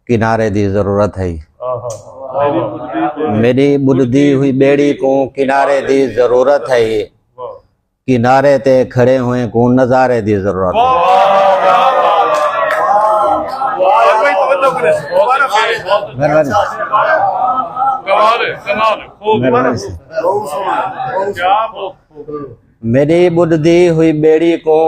کنارے دی ضرورت ہے میری بدھی ہوئی بیڑی کو کنارے دی ضرورت ہے کنارے تے کھڑے ہوئے کو نظارے دی ضرورت ہے مہربانی میݙی ٻݙدی ہوئی ٻیڑی کوں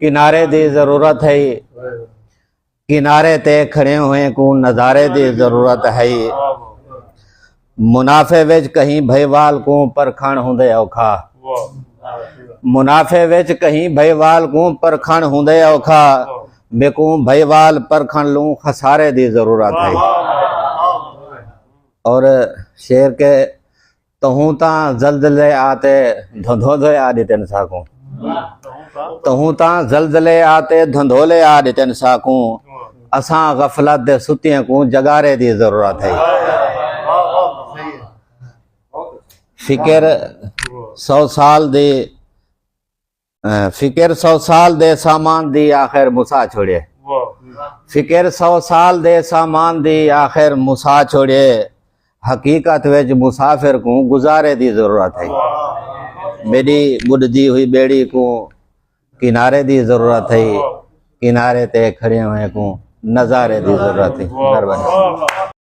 کنارے دی ضرورت ہے کنارے تے کھڑے ہوئے کوں نظارے دی ضرورت ہے منافع وچ کہیں بھائی وال کوں پرکھن ہوندے اوکھا منافع وچ کہیں بھائی وال کوں پرکھن ہوندے اوکھا میکوں بھائی وال پرکھن لوں خسارے دی ضرورت ہے اور شعر کے تہوں تاں زلزلے آتے دھندھولے آ ڈتن ساکوں تہوں تاں زلزلے آتے دھندھولے آ ڈتن ساکوں اساں غفلت دے ستیاں کوں جگارے دی ضرورت ہے فکر سو سال دی فکر سو سال دے سامان دی آخر مسا چھوڑے فکر سو سال دے سامان دی آخر مسا چھوڑے حقیقت وچ مسافر کو گزارے دی ضرورت ہے میری بڑھدی ہوئی بیڑی کو کنارے دی ضرورت ہے کنارے تے کھڑے ہوئے کو نظارے دی ضرورت ہے